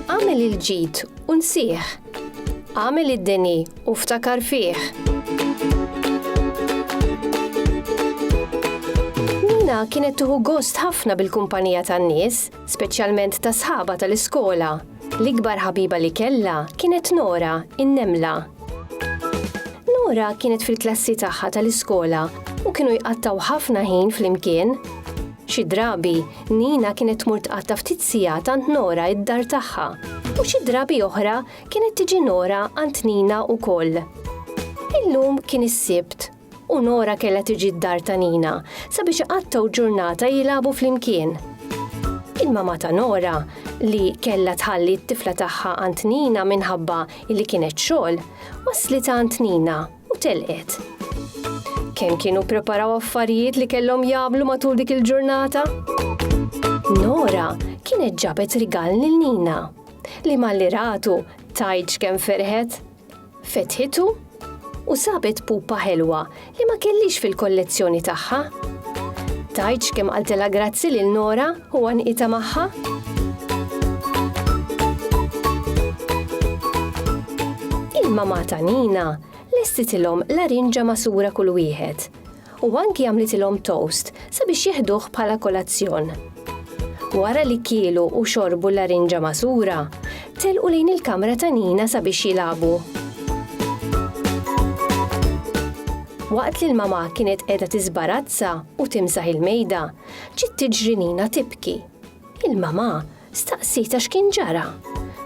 Għamel il-ġid u nsieħ. Għamel id-deni u ftakar fih. Nina kienet tuħu gost ħafna bil-kumpanija tan-nies, speċjalment ta' sħaba tal-iskola. L-ikbar ħabiba li kellha kienet Nora, in-nemla. Nora kienet fil-klassi tagħha tal-iskola u kienu jqattaw ħafna ħin flimkien. Xi drabi, Nina kienet tmur tqatta' ftit sigħat għand Nora id-dar tagħha u xi drabi oħra kienet tiġi Nora għand Nina wkoll. Illum kien is-Sibt u Nora kellha tiġi d-dar ta' Nina sabiex iqattgħu ġurnata jilagħbu flimkien. Il-mamà ta' Nora, li kellha tħalli t-tifla tagħha għand Nina minħabba li kienet xogħol, wasslet għand Nina u telqet. Kemm kienu ppreparaw affarijiet li kellhom jagħmlu matul dik il-ġurnata? Nora kienet ġabet rigal lil Nina, li malli ratu tgħidx kemm ferħet. Fetħitu u sabet pupa ħelwa li ma kellhiex fil-kollezzjoni tagħha. Tgħidx kemm qaltilha grazzi lil Nora u għanqitha magħha? Il-mamà ta' Nina lestitilhom larinġa magħsura kull wieħed u anki għamlitilhom toast sabiex jeħduh bħala kolazzjon. Wara li kielu u xorbu l-larinġa magħsura, telqu lejn il-kamra ta' Nina sabiex jilagħbu. Waqt li l-mamà kienet qiegħda tiżbarazza u timsaħ il-mejda, ġiet tiġri Nina tibki. Il-mamà staqsietha x'kien ġara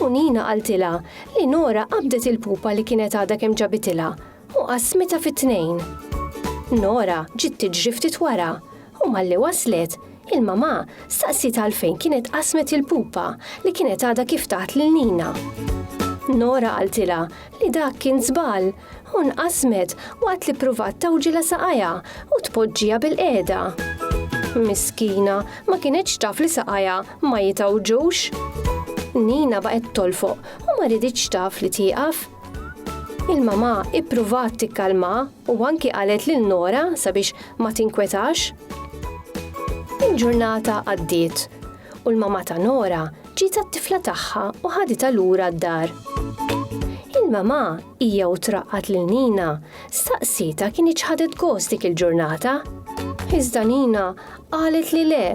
u Nina qaltilha li Nora qabdet il-pupa li kienet għadha kemm ġabitilha U qasmitha fi tnejn. Nora ġiet tiġri ftit wara u malli waslet, il-mamà staqsiet għalfejn kienet qasmet il-pupa li kienet għadha kif tat lil Nina. Nora qaltilha li dak kien żball u nqasmet waqt li ppruvat tawġilha saqajha u tpoġġiha bilqiegħda. Miskina, ma kinitx taf li saqajha ma jitgħawġux. Nina baqgħet tolfoq u ma riditx taf li tieqaf. Il-mamà ippruvat tikkalmha u anki qalet lil Nora sabiex ma tinkwetax. Il-ġurnata għaddiet u l-mamà ta' Nora ġiet għat-tifla tagħha u ħaditha lura d-dar. Il-mamà, hija u traqqat lil Nina, staqsietha kien iċ ħadet gost dik il-ġurnata. Iżda Nina qalet li le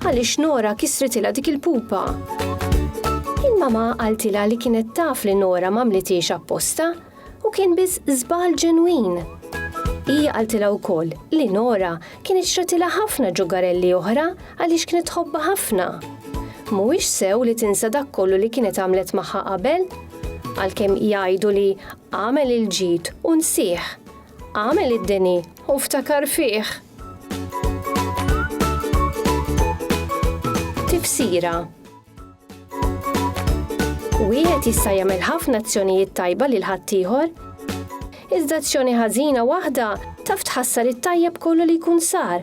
għaliex Nora kisritilha dik il-pupa. Il-mama qaltilha li kienet taf li Nora m'għamlitiex apposta u kien biss żball ġenwin. Hija qaltilha wkoll li Nora kienet xratilha ħafna ġugarelli oħra għaliex kienet tħobba ħafna. Mhuwiex sew li tinsa dak kollu li kienet għamlet magħha qabel? Għalkemm jgħidu li għamel il-ġid u nsih, Għamel id-dini u ftakar fih. Tifsira Wieħed jista' jagħmel ħafna azzjonijiet tajba lil ħaddieħor, iżda azzjoni ħażina waħda taf tħassar it-tajjeb kollu li jkun sar.